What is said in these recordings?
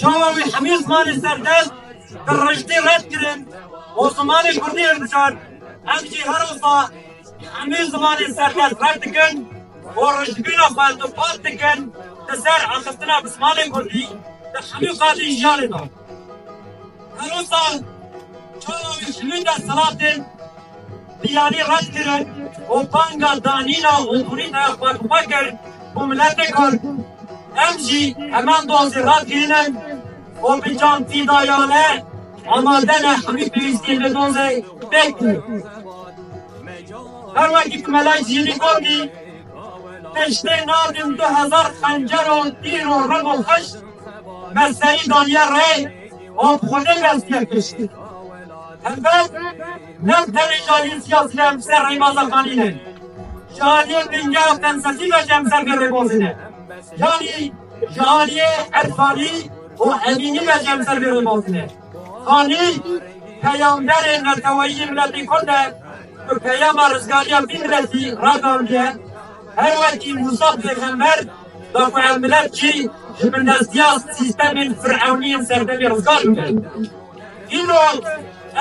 Çawa wî hemî zimanê serdest bi rijdî red kirin û zimanê kurdî hilbijart, em jî her wiha hemî zimanê serdest red dikin û rijdbîna xwe dûpasdikin li ser axiftina bi zimanê kurdî di hemî qadên jiyanê de. Herostan çawa wî şilînga silasên biyanî red kirin û banga danîna hûrhûrî taya xwe bi xwe kir ku miletê kurd em jî heman dozê red kirînin û bi can fîdayane amade ne hemî pêwîstiyên vê dozê fêk bûn. Her wekî ku Mela Cînî gotî, pêştê nadin du hezar xencer û tîr û rib û xişt, Me serî daniye rê û xwe ne dest pê kişt. Helbet ne tenê cariyên siyasî em ser rêbaza Xalî ne. Ji aliyê bingeha felsefî ve jî em ser vê rêbazê ne. Yanî ji aliyê irfanî û emînî ve jî em ser vê rêbazê ne. Xalî peyamberê neteweyî yê miletê kurd e ku peyama rizgariya vî miletî ragihandiye. Her wekî Mûsa pêxember, Wek ku em milet jî ji bindestiya sîstemên firewnî yên serdemê rizgar bibin. Îro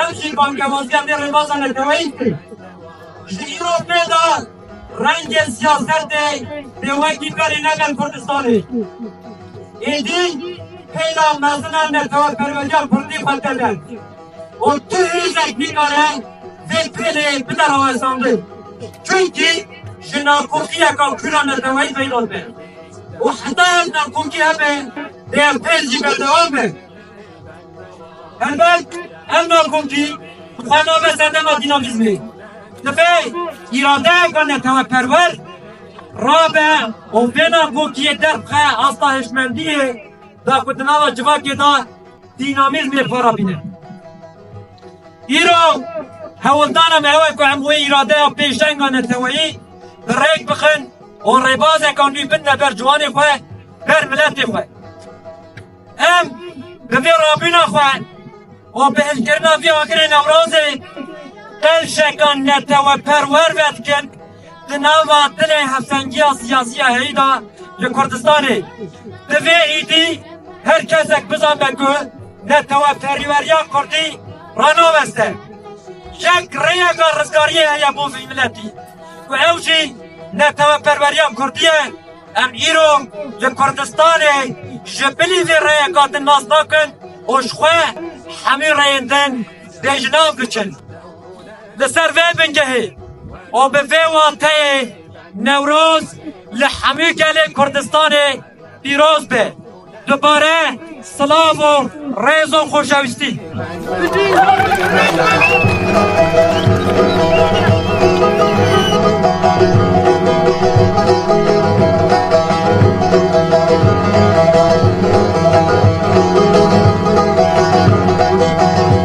ev jî bangewaziya vê rêbaza neteweyî dikin. Ji îro pê de rengên siyasetê dê wekî berê ne gel Kurdistanê. Êdî pêla mezin a neteweperweriya kurdî xwe tede. û tu hêzek nikare vê pêlê bide rawestandin çunkî ji nakokiya kura neteweyî peyda dibe û heta ev nakokî hebe dê ev pêl jî berdewam be. Helbet ev nakokî bi xwe nabe sedema dînamîzmê. Dibe îradeyeke neteweperwer rabe û vê nakokiyê derbixe asta hişmendiyê de ku di nava civakê de Dînamîzmê xwe re bîne. Îro hewldana me ew e ku em wê îradeya pêşenga neteweyî bi rêk bixin û rêbazeka nû bidine ber ciwanê xwe, ber miletê xwe. Em bi vê rabûna xwe û bi hişkirina vî agirê Newrozê qelşeka neteweperwer vedikin Di nava dilê hevsengiya siyasî ya herî de li Kurdistanê di vê êdî her kesek bizanbe ku neteweperweriya kurdî ranaveste. Yek rêyeka rizgariyê heye bo vî miletî ku ew jî neteweperweriya kurdî ye. Em îro li Kurdistanê ji bilî vê rêyeka din nas nakin û ji xwe hemû rêyên din bêjinav biçin. Li ser vê bingehê û bi vê wateyê Newroz li hemû gelê Kurdistanê pîroz be. Dubare silav û rêz û xoşewîstî.